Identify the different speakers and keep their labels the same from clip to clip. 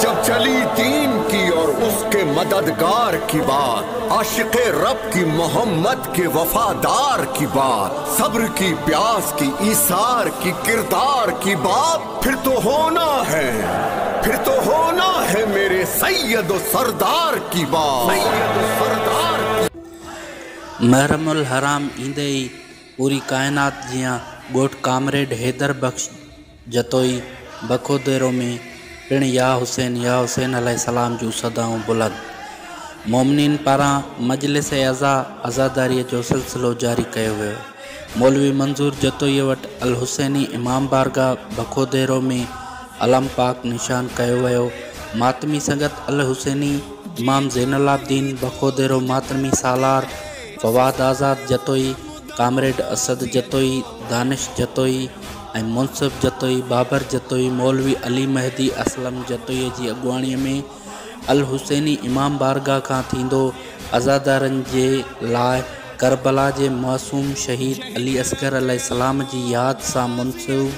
Speaker 1: جب چلي دين ڪي اور اس ڪي مددگار ڪي بات عاشق رب ڪي محمد ڪي وفادار ڪي بات صبر ڪي پياس ڪي ايثار ڪي ڪردار ڪي بات پھر تو ھونا ھي پھر تو ھونا ھي ميري سيد و سردار ڪي بات. محرم الحرام
Speaker 2: ايندي ئي پوري ڪائنات جيان ڳوٺ ڪامريڊ حيدر بخش جتوئي بخوديرو ۾ پڻ يا حسين يا حسين عليه السلام جون صدائون بلند. مومنين پاران مجلس عزا عزاداريء جو سلسلو جاري ڪيو ويو. مولوي منظور جتوئيء وٽ الحسيني امام بارگاهه بخوديرو ۾ علم پاڪ نشان ڪيو ويو. ماتمي سنگت الحسيني امام زين العابدين بخوديرو ماتمي سالار فواد آزاد جتوئي، ڪامريڊ اسد جتوئي، دانش جتوئي، ۽ منصف جتوئي، بابر جتوئي، مولوي علي مهدي اسلم جتوئيء جي اڳواڻيء ۾ الحسيني امام بارگاهه کان ٿيندو عزادارن جي لاء ڪربلا جي معصوم شهيد علي اصغر عليه السلام جي ياد سان منسوب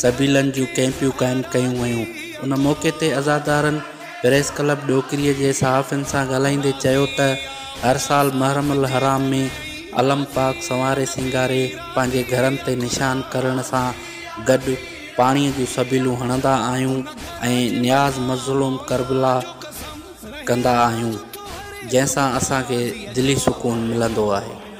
Speaker 2: سبيلن جون ڪئمپيون قائم ڪيون ويون. ان موقعي تي عزادارن. پريس ڪلب ڏوڪري جي صحافين سان ڳالهائيندي چيو ته هر سال محرم الحرام ۾ علم پاڪ سنواري سينگاري پنهنجي گهرن تي نشان ڪرڻ سان گڏ پاڻي جون سبيلون هڻندا آهيون ۽ نياز مظلوم ڪربلا ڪندا آهيون جنهن سان اسان کي دلي سڪون ملندو آهي.